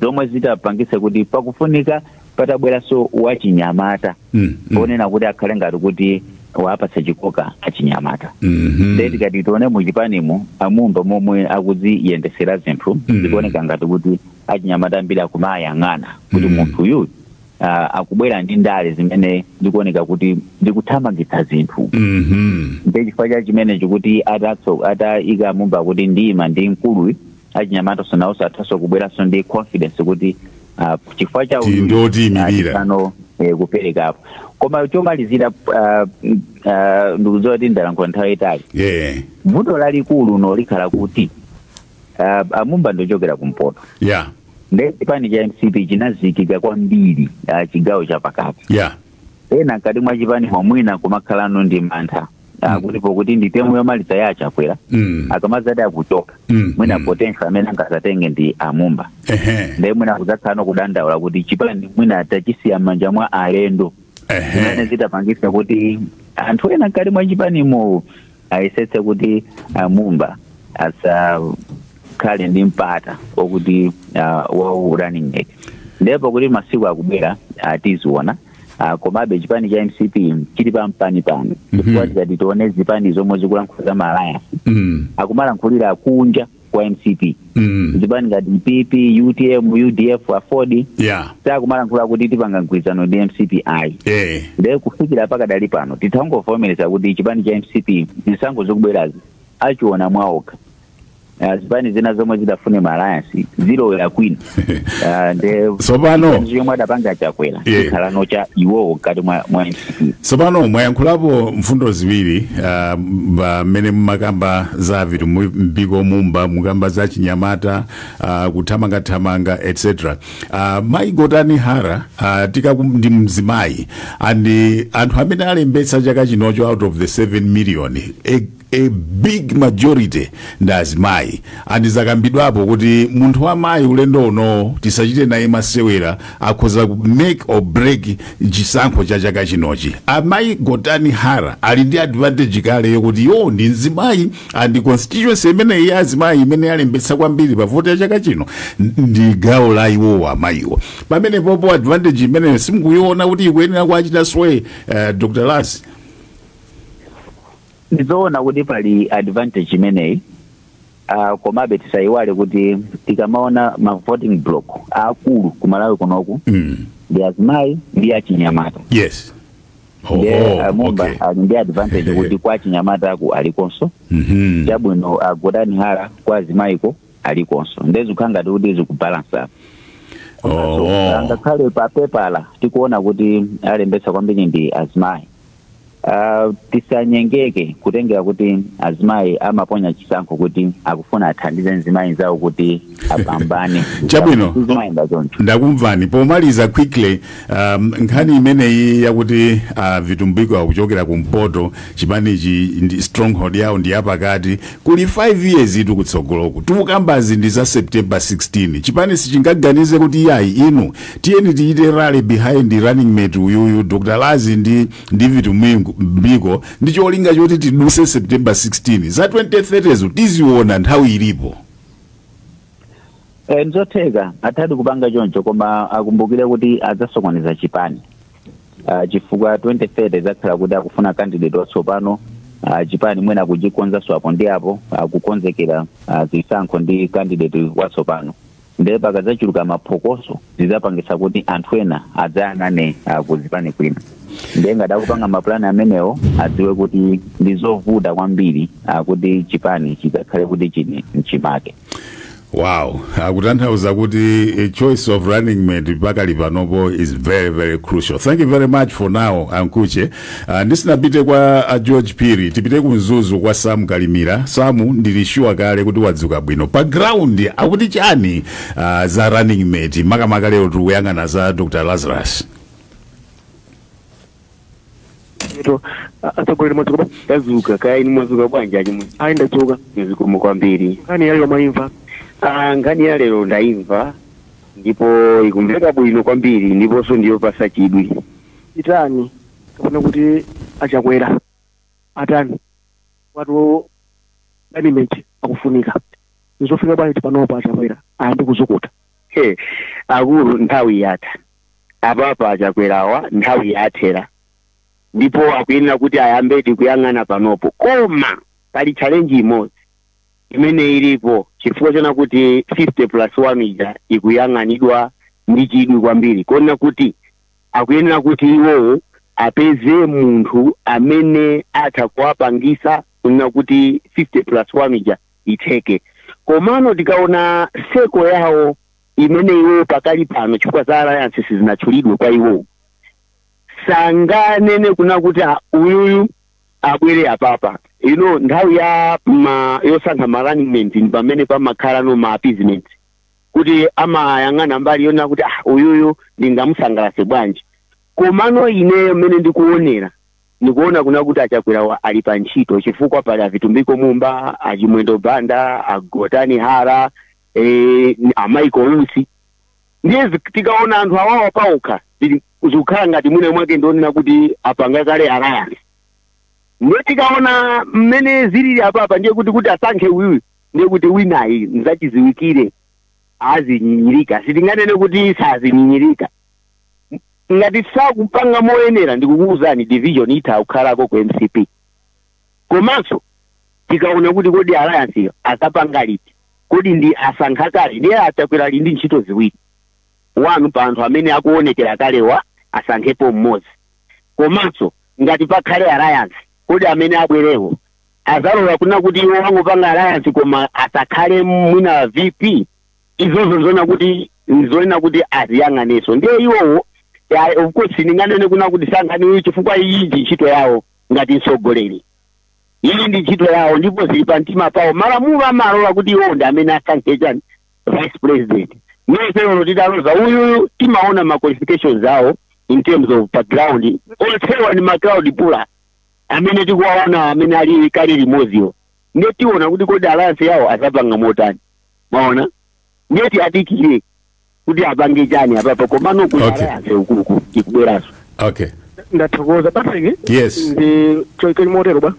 zomwe zithapangitsa kuti pakufunika patabweranso wachinyamata Mm, mm. onena kuti akhale ngati kuti awapatse chikoka achinyamata Mhm. nde tikati tione muchipanimu amumba momwe akuziyendesera zinthu Mm. zikuoneka ngati kuti achinyamata ambiri akumayang'ana kuti Mm. munthu uyu ah, akubwera ndi ndale zimene zikuoneka kuti zikuthamangitsa zinthu Mhm. nde chifukwa cha chimenecho kuti atati atayika amumba kuti ndi mandimkulu achinyamataso nawonso athanso kubweranso ndi confidence kuti ah, chifukwa cha Ti- uyu, ndi otiyimirira. ah, tithano, eh, kuperekapo koma chomalizira ah, mm, ah, ndikudziwa kuti ndalankhula nthawi yayitali Yeah. vuto lalikulu nolikhala kuti ah, ah, amumba ndochokera kumpoto ya nde chipani cha mcp chinazikika kwambiri ah, chigawo cha pakati ya ena mkati mwa chipani mwa mwina kumakhalano ndi mantha ah, kuti pokuti ndi temu yomaliza ya achakwera Mm. akamazati akuchoka Mm, mwina mm. potential amene angazatenge ndi amumba ehe nde mwina kudzakhalano kudandaula kuti chipani mwina tachisiya m'manja mwa alendo zimene ehe zithapangisa kuti anthu ena mkati mwa chipanimo ayesetse kuti a mumba asakhale ndi mpata okuti uh, wa running mate nde pokuti masiku akubwera uh, tiziona uh, komabe chipani cha mcp chili pampanipani chifukwa tikati tione zipani zomwe zikulankhula za ma alliance Mm. akumalankhulira kunja kwa mcp Mm. zipani ngati pp utm udf aford Yeah. sakumalankhula kuti tipanga mgwirizano ndi mcp ayi Eh. nde kufikira pakadali pano tithangovomereza kuti chipani cha mcp zisankho zokubwerazi ayima mwaokha Ah, zipani zina zomwe zitafune ma alliance zilowera kwina Ah, nde Tsopano. chiganizo chomwe atapange chakwera Yeah. chikhalano cha iwowo mkati mwa mwa mcp tsopano mwayankhulapo mfundo ziwiri ah, mba- mmene mumakamba za vitumbiko mumba mukamba za chinyamata ah, kuthamangathamanga etc Ah, mayi gotani hara ah, tikaku ndi mzimayi and anthu amene alembetsa chaka chinocho out of the 7 million a a big majority ndi azimayi and zakambidwapo kuti munthu wa mayi ulendo unowo tisachite naye masewera akhoza ku make or break chisankho cha chaka chinochi amayi gotani hara ali ndi advantage kale yokuti iwo ndi mzimayi and constituency imeneyi ya azimayi imene yalembetsa kwambiri pa voti ya chaka chino n- ndi gawo la iwowo amayiwo pamene popo advantage imeneyo simukuyiona kuti ikuyenera kuachita sway uh, dr lasi ndizoona kuti pali advantage imeneyi uh, komabe tisayiwale kuti tikamaona ma voting block aakulu ku malawi kunoku mm. ndi azimayi ndi achinyamata yes ndiye Oho, uh, mumba okay. ali ndi advantage kuti kwa achinyamataku alikonso Mhm. chabwino uh, a Gotani Hara kwa azimayiko alikonso nde zikukhala ngati kuti zikubalansa Oh. ngakhale pa pepala tikuona kuti alembetsa kwambiri ndi azimayi Uh, tisanyengeke kutengera kuti azimayi amaponya chisankho kuti akufuna athandize mzimayi nzawo kuti apambane Chabwino. zimayenda choncho ndakumvani pomaliza quickly um, nkhani imeneyi yakuti uh, vitumbiko akuchokera kumpoto chipanichi ndi stronghold yawo ndi yapakati kuli 5 years itu kutsogoloku tikukambazi ndi za september 16 chipani sichingaganize kuti yayi inu tiyeni tichite rally behind running mate uyuyu dr lazi ndi ndi vitu Mwingu- mbiko ndi cholinga choti tidutse september 16 za 2030zo tidzaziona nthawi ilipo Eh, nzotheka athadi kupanga choncho koma akumbukire kuti adzasokoneza chipani uh, chifukwa 2030 idzakhala kuti akufuna candidate watsopano uh, chipani mwina akuchikonzanso apo ndi apo akukonzekera uh, zisankho ndi candidate watsopano nde pakadzachuluka maphokoso zidzapangitsa kuti anthu ena adzayang'ane ah, ku zipani zina nde ngati akupanga mapulani amenewo adziwe kuti ndi zovuta kwambiri ah, kuti chipani chidzakhale kuti chili mchimake wow akutanthauza kuti a choice of running mate pakali panopo is very very crucial thank you very much for now a Mkhutche Ah, ndisanapite kwa a george phiri tipite ku mzuzu kwa samu kalimira samu ndilishuwa kale kuti wadzuka bwino pa ground akuti chani ah, za running mate makamaka lero tikuyang'ana za dr lazarus to atsogoleri mwadzuka tadzuka kaya inu mwadzuka bwanji achimwe ayi ndadzuka zikomo kwambiri nkhani yalero mwaimva Ah, nkhani ya lero ndaimva ndipo ikumveka bwino kwambiri ndiponso ndiyopasa chidwi chitani kapena kuti achakwera atani watu management akufunika nzofika bwanji panopo achakwera ayambe kuzukuta He, akulu nthawi yatha apapa achakwerawa nthawi yathera ndipo akuyenera kuti ayambedi kuyang'ana panopo koma pali challenge imodzi imene ilipo chifukwa choona kuti 50 plus 1 ija ikuyang'anidwa ndi chidwi kwambiri kuona kuti Akuyenera kuti iwowo apeze munthu amene atha kuwapangisa kunena kuti 50 plus 1 ija itheke. Komano tikaona circle yawo imene iwowo pakali pano chifukwa za alliance sizinatchulidwe kwa iwowo, sanganene kunena kuti ah uyuyu abwere apapa. You know nthawi ya ma yosankha ma running mate ndipamene pamakhalano ma appeasement kuti amayang'ana mbali yonena kuti ah uyuyu ndingamusangalase bwanji komano ineyo mmene ndikuonera ndikuona kuna kuti achakwerawa ali pa ntchito chifukwa pali a Vitumbiko Mumba a Chimwendo Banda a Gotani Hara eh, a Michael Usi ndiye zi- tikaona anthu awawa paokha zili- zikukhala ngati mwina mwake ndionena kuti apanga kale alliance ndiye tikaona mmene zilili apapa ndiye kuti kuti asankhe uyuyu ndiye kuti winayi nzachidziwikire azinyinyirika sitinganene kuti sazinyinyirika M- ngati sakupanga moyenera ndikukuwuzani division itha kukhalako ku mcp komanso tikaona kuti kodi alliance iyo azapanga liti kodi ndi asankha kale ndiye achakwera ali ndi ntchito ziwiri one pa anthu amene akuonekera kalewa asankhepo mmodzi komanso ngati pakhale alliance kodi amene abwerewo azalola kuna kuti iwowo angopanga alliance koma asakhale mwina vp izozo nzoona kuti nzonena kuti aziyang'aneso ndiye iwowo ya- of course ndinganene kuna kuti sankhani uyu chifukwa iyi ndi ntchito yawo ngati mtsogoleri iyi ndi ntchito yawo ndipo zili pa mtima pawo malamulo amalola kuti iwowo ndi amene asankhe chani vice president ndiye olo titaloza uyuyu timaona ma qualifications awo in terms of background onsewa ndi ma crowd puller amene tikuwaonawa amene ali kale limodziwo ndiye tiona kuti kodi alliance yawo azapanga motani maona ndiye tiwadikire kuti apange chani apapa komano kuli Okay. alliance ukuuku ikubweranso okay ndathokoza patrick Yes. ndi choikeli motero bwana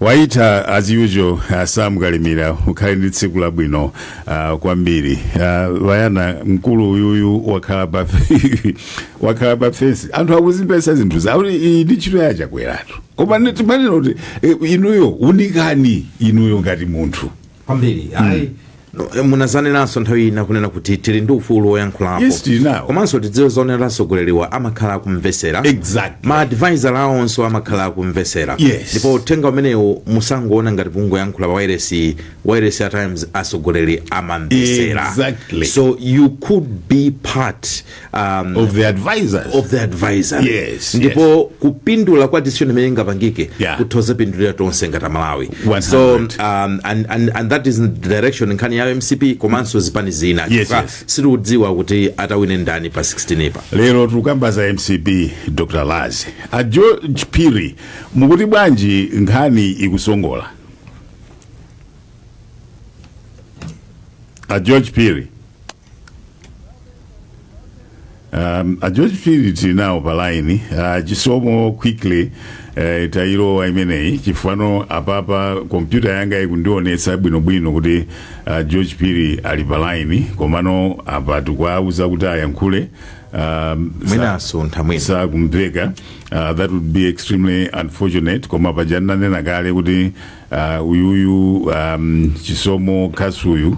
Waita as usual uh, sam kalimira ukhale ndi tsiku labwino uh, kwambiri uh, vayana mkulu uyuyu wakhala pa wakhala pa fesi anthu akuzimvetsa zinthu zawo iyi ndi ntchito ya Chakweratu koma ne- timanena kuti eh, inuyo unikani inuyo ngati munthu kwambiri ayi No, eh, munazanenanso nthawi ina kunena kuti tili ndi ufulu woyankhulapo Yes, tili nawo. komanso tidziwe zonena atsogoleriwa amakhala akumvesera Exactly. ma advisor awonso amakhala akumvesera Yes. ndipo uthenga umenewu musangoona ngati kungoyankhula pa wairesi wairesi at times atsogoleri amamvesera Exactly. so you could be part um, of the advisors of the advisor Yes, ndipo kupindula kwa decision imene ingapangike Yeah. kutha kupindulira tonse ngati aMalawi 100. so um, and, and, and that is the direction nkhani ya MCP komanso zipani zina Yes, Chifukwa yes. sitikudziwa kuti atawine ndani pa 16 pa lero tikukamba za MCP Dr Lazi a George Phiri mukuti bwanji nkhani ikusongola a George Phiri Um, a George Phiri tili nawo pa line uh, Chisomo quickly uh, tayilowa imeneyi chifukwa pano apapa kompyuta yanga ikundionetsa bwinobwino kuti uh, George Phiri ali pa line komano apa tikuwauza kuti ayankhule um, mwina sa- asuntha mwina sakumveka uh, that would be extremely unfortunate koma paja ndinanena kale kuti Uh, uyuyu um, Chisomo kasuyu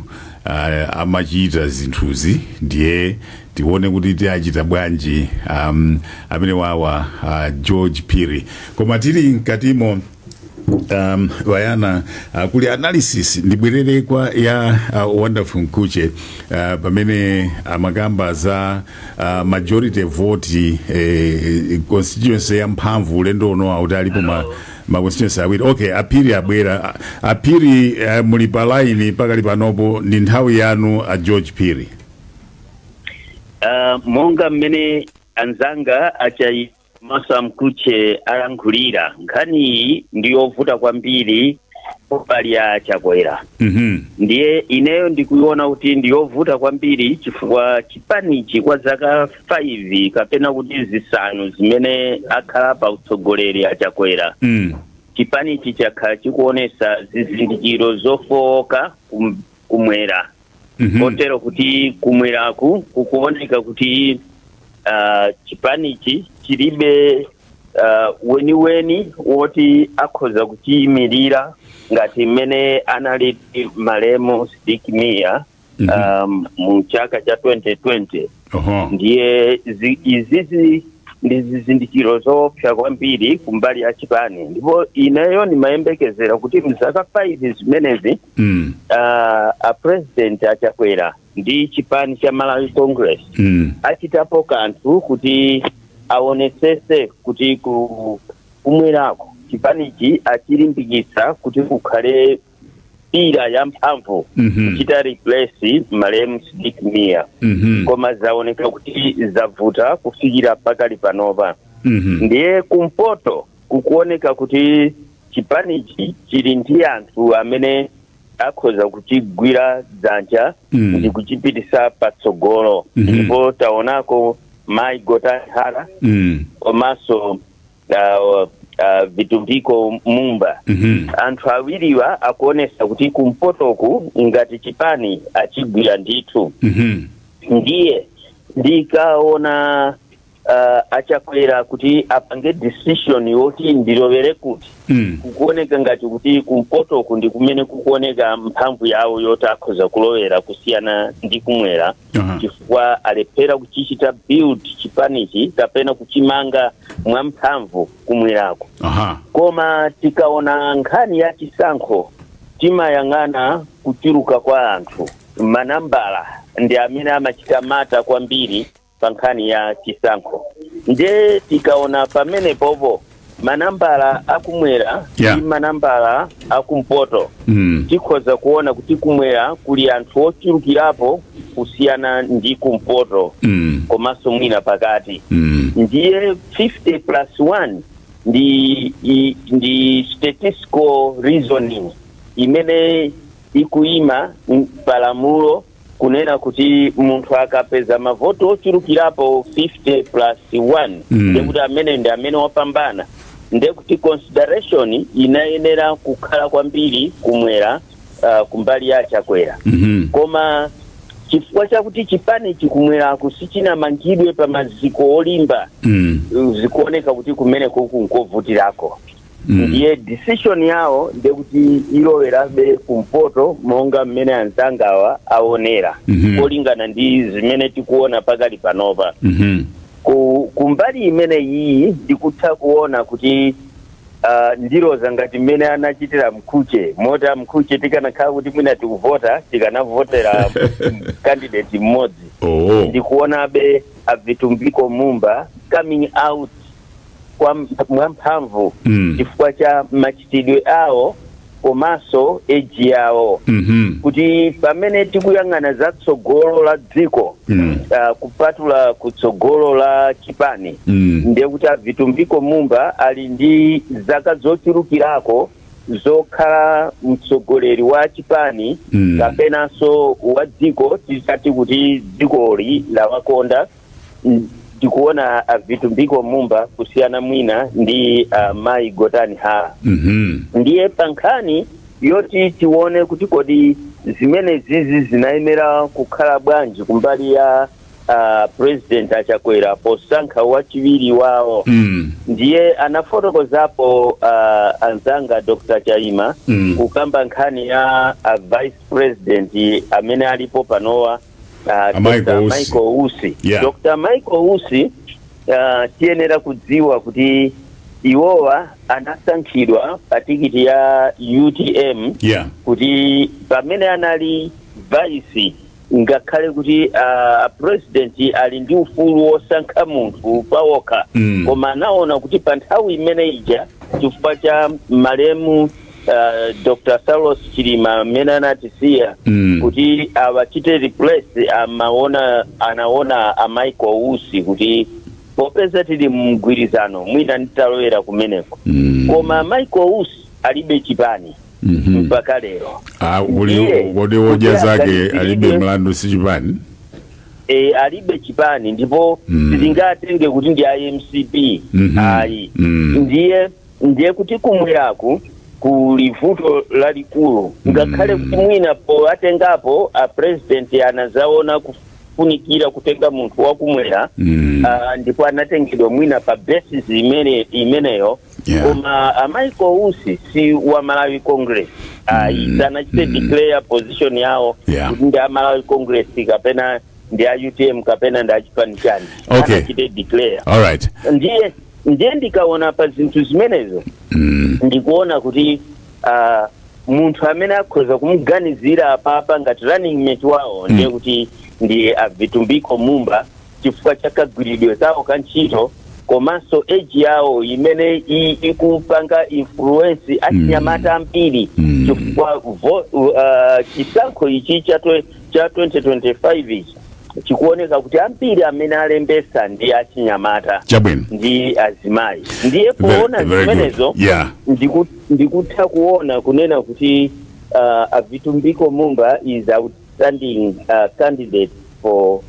uh, amachita zinthuzi ndiye tione kuti tiachita bwanji um, amene wawa uh, George Phiri koma tili mkatimo um, vayana uh, kuli analysis ndibwerere kwa ya uh, Wonderful Mkhutche uh, pamene amakamba za uh, majority vote eh, constituency ya mphamvu ulendo uno akuti alipo ma ma constituency awiri okay a Phiri abwera A- a Phiri eh, muli pa line pakali panopo ndi nthawi yanu a George Phiri Uh, monga mmene anzanga a Chaima komanso a Mkhutche alankhulira nkhani iyi ndi yovuta kwambiri mbali ya a Chakwera mhm ndiye ineyo ndikuiona kuti ndi yovuta kwambiri chifukwa chipanichi kwa zaka 5 kapena kuti zisanu zimene akhala pa utsogoleri a Chakwera mm. chipanichi chakhala chikuonesa zizindikiro zofowoka kum- kumwera Mhm. kotero kuti kumweraku kukuoneka kuti ah, chipanichi chilibe ah, weniweni woti akhoza kuchiyimirira ngati mmene anali malemu Sidik Mia Mhm. um, mu chaka cha 2020 Oho. ndiye zi- izizi ndi zizindikiro zoopsa kwambiri kumbali ya chipani ndipo ineyo ndimayembekezera kuti mzaka 5 zimenezi Mm. uh, a president achakwera ndi chipani cha malawi congress Mm. achitapo kanthu kuti aonesese kuti ku kumwerako chipanichi achilimbikitsa kuti kukhale pillar yamphamvu Mhm. kuchita replace malemu Sidik Mia Mhm. koma zaoneka kuti zavuta kufikira pakali panopa Mhm. ndiye kumpoto kukuoneka kuti chipanichi chili ndi anthu amene akhoza kuchigwira dzanja Mm. ndi kuchipitisa patsogolo Mhm. ndipo taonako mai Gotani Hara Mm. komanso uh, uh, vitumbiko mumba Mhm. anthu awiriwa akuonesa kuti kumpotoku ngati chipani achigwira ndithu Mhm. ndiye ndikaona uh, achakwera kuti apange decision yoti ndilowere kuti Mm. kukuoneka ngati kuti kumpotoku ndi kumene kukuoneka mphamvu yawo yoti akhoza kulowera kusiyana ndi kumwera Aha. chifukwa alephera kuchichita build chipanichi kapena kuchimanga mwamphamvu kumwerako Aha. koma tikaona nkhani ya chisankho timayang'ana kuchuluka kwa anthu manambala ndi amene amachita matter kwambiri pa nkhani ya chisankho nde tikaona pamenepopo manambala akumwera Yeah. ndi manambala akumpoto Mm. tikhoza kuona kuti kumwera kuli anthu ochulukirapo kusiyana ndi kumpoto Mm. komanso mwina pakati Mm. ndiye 50 plus 1 ndi i- ndi statistical reasoning imene ikuyima m- palamulo kunena kuti munthu akapeza mavoti ochulukirapo 50 plus 1 Mm. ndekuti ameneyo ndi amene wapambana ndekuti consideration inayenera kukhala kwambiri kumwera uh, kumbali ya achakwera Mhm. koma chifukwa chakuti chipanichi kumweraku sichinamangidwe pa maziko olimba Mm. zikuoneka kuti kumene kuku nkovutirako Mm. ndiye decision yawo ndiye kuti ilowerabe kumpoto monga mmene anzangawa aonera Mhm. kolingana ndi zimene tikuona pakali panopa Mhm. ku, ku mbali imene iyi ndikutha kuona kuti uh, ndiloza ngati mmene anachitira mkhuche moti a mkhuche tikanakhala kuti mwina tikuvota tikanavotera candidate mmodzi Oh. ndikuonabe avitumbiko mumba coming out kwa mp- mwamphamvu Mm. chifukwa cha machitidwe awo komanso age yawo Mhm. kuti pamene tikuyang'ana za tsogolo la dziko Mm. ah, kupatula ku tsogolo la chipani Mm. ndiye kuti a Vitumbiko Mumba ali ndi zaka zochulukirako zokhala mtsogoleri wa chipani Mm. kapenanso wa dziko titati kuti dzikoli lawakonda Mm, ndikuona a Vitumbiko Mumba kusiyana mwina ndi a mayi Gotani Hara Mhm. ndiye pa nkhani yoti tione kuti kodi zimene zizi zinayenera kukhala bwanji kumbali ya uh, president a Chakwera posankha wachiwiri wawo Mm. ndiye anafotokozapo uh, anzanga Dr. Chaima Mm. kukamba nkhani ya uh, vice president amene alipo panowa Ah, Michael Dr. Usi. Michael Usi. Yeah. Dr. Michael Usi ah, tiyenera kudziwa kuti iwowa anasankhidwa pa tikiti ya UTM yeah kuti pamene anali vice ngakhale kuti uh, president ali ndi ufulu wosankha munthu pawokha Mm. koma anaona kuti pa nthawi imene ija chifukwa cha malemu uh, Dr. Saulos Chilima amene anatisiya Mm. kuti awachite replace amaona anaona a Michael Usi kuti popeza tili mumgwirizano mwina nditalowera kumeneko Mm. koma Michael Usi alibe chipani Mhm. mpaka lero Ah, kuli Ndiye, kodi odya kuti zake aganizire- alibe mlandu si chipani e, alibe chipani ndipo Mm. sitingatenge kuti ndi a mcp Mhm. ayi Mm. ndiye ndiye kuti kumweraku kuli vuto lalikulu ngakhale kuti mwina powatengapo a president anazaona kufunikira kutenga munthu wakumwera Mm. ah, ndipo anatengedwa mwina pa basis imene imeneyo Yeah. koma a Michael Usi si a Malawi Congress ayi Mm. sanachite Mm. declare position yawo Yeah. kuti ndi a Malawi Congress kapena ndi a UTM kapena ndi a chipani chani Okay. sanachite declare all right ndiye ndiye ndikaona pa zinthu zimenezo Mm. ndikuona kuti ah, munthu amene akhoza kumuganizira apapa ngati running mate wawo ndiye kuti ndi a Vitumbiko Mumba chifukwa cha kagwiridwe kawo ka ntchito komanso age yawo imene i- ikupanga influence achinyamata ambiri Mm. chifukwa vo- uh, chisankho ichi cha twe- cha 2025 ichi chikuoneka kuti ambiri amene alembesa ndi achinyamata Chabwino. ndi azimayi ndiye Very- poona very good. zimenezo Yeah. ndiku- ndikutha kuona kunena kuti uh, a Vitumbiko Mumba is outstanding uh, candidate for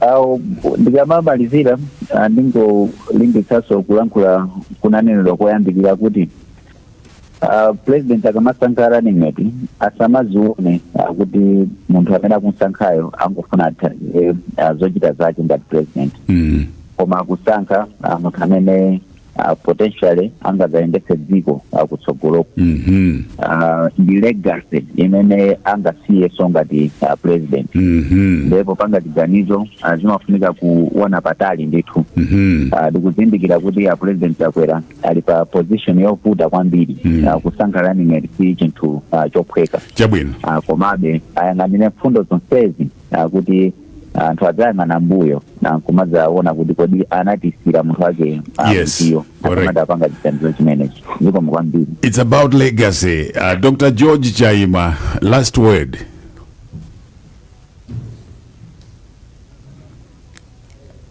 Ah ndikamamalizira ah, ndingolimbitsanso kulankhula kunanenedwa koyambirira kuti ah, president akamasankha running mate asamazione ah, kuti munthu amene akumsankhayo angofuna athandizire ah, zochita zake ngati president Mm. koma akusankha ah, munthu amene uh, potentially angadzayendetse dziko kutsogoloku Mhm. uh, ndi legacy imene angasiyenso ngati uh, president Mhm. ndiye popanga chiganizo uh, zimafunika kuona patali ndithu Mhm. uh, ndikuzindikira kuti a president chakwera ali pa position yovuta kwambiri Mm. uh, kusankha running mate si chinthu uh, chophweka chabwino uh, komabe ayang'anire mfundo zonsezi ah, kuti anthu adzayang'ana mbuyo nkumadzaona kuti kodi anatisiyira munthu wake ah, Yes, mtiyo correct. akamapanga chiganizo chimenechi zikomo kwambiri It's about legacy. Uh, Dr. George Chaima, last word.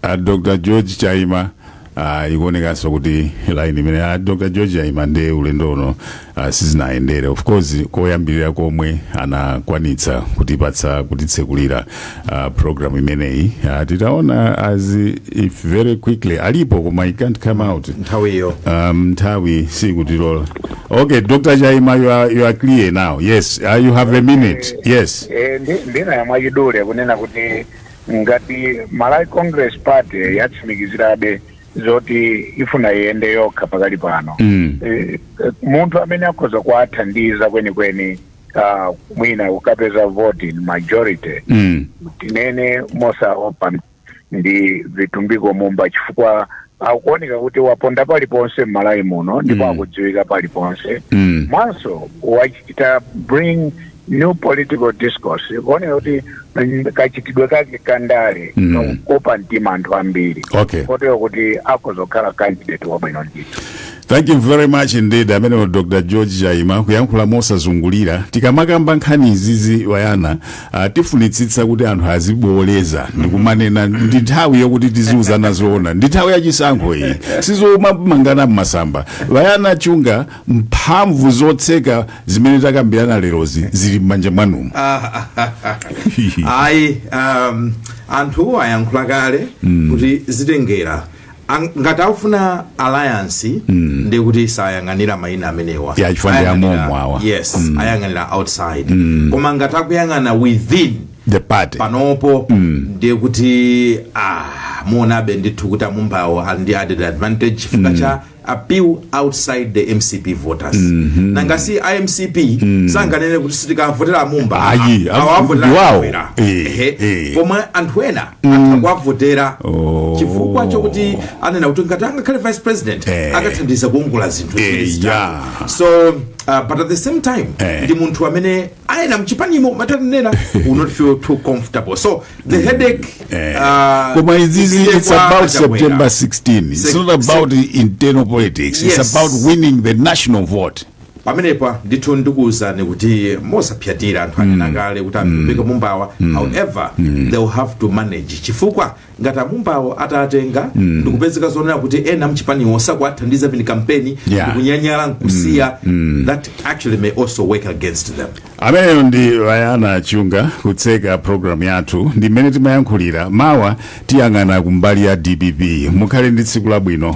a dr george chaima ah, ikuonekanso kuti line imene a dr george chaima ndiye ulendo uno ah, sizinayendere of course koyambirira komwe anakwanitsa kutipatsa kutitsekulira ah, program imeneyi Ah, titaona as if very quickly alipo koma i can't come out nthawiyo um, nthawi sikutilola okay dr chaima you are, you are clear now yes uh, you have a minute yes Eh, ndi- ndinayamba mwachidule kunena kuti Ngati Malawi Congress Party yatsimikizirabe zoti ifuna iyende yokha pakali pano, munthu amene akhoza kuwathandiza kwenikweni mwina kukapeza voti in majority, tinene mosaopa, ndi Vitumbiko Mumba chifukwa akuoneka kuti waponda paliponse m'Malawi muno ndipo akudziwika paliponse, komanso wachita bring new political discourse ikuoneka kuti mm, kachitidwe kake ka ndale Mm. kakukoka mtima anthu ambiri Okay. kotero kuti akhoza kukhala candidate wabwino ndithu thank you very much indeed amenewo dr george chaima kuyankhula mosazungulira tikamakamba nkhani izizi wayana uh, tifunitsitsa kuti anthu azibwereza ndikumanena ndi nthawi yokuti tiziuzana zoona ndi nthawi yachisankho iyi sizomangana mmasamba wayana chunga mphamvu zotseka zimene takambirana lerozi zili m'manja mwanumo ayi um, anthu ayankhula kale kuti zitengera Ang- ngati akufuna alliance ndiye kuti sayang'anira mayina amenewa Ya, chifukwa ndi Ayang'anira- amomo awa. yes ayang'anira outside koma ngati akuyang'ana within the party panopo ndiye kuti ah, muonabe ndithu kuti amumbawo ali ndi added advantage chifukwa cha appeal outside the mcp voters nangasi a mcp sanganene kuti sitikavotera amumba Ayi, awa am- avotera ndiwawo. Chakwera. Eh, Ehe. eh. pomwe anthu ena atha kuwavotera Oh. chifukwa chokuti anena kuti ngati angakhale vice president Eh. akathandiza kuongola zinthu Eh, zimenezi. yeah. so uh, but at the same time Eh. ndi munthu amene ena mchipanimo mwatanena will not feel too comfortable so the headache eh. uh, koma izizi it's about september 16 it's not about internal politics yes. it's about winning the national vote pamenepa ndithu ndikuwuzani kuti mosapyatira anthu anena mm. kale kuti vitumbiko mm. mumbawa mm. however they will have to manage chifukwa ngati amumbawo atatenga ndikupezeka zonena kuti ena mchipaniwo sakuwathandiza pini kampeni Yeah. ndikunyanyala nkusiya that actually may also work against them ameneyo ndi wayana chunga kutseka programu yathu ndi mmene timayankhulira mawa tiyang'ana kumbali ya dpp mukhale ndi tsiku labwino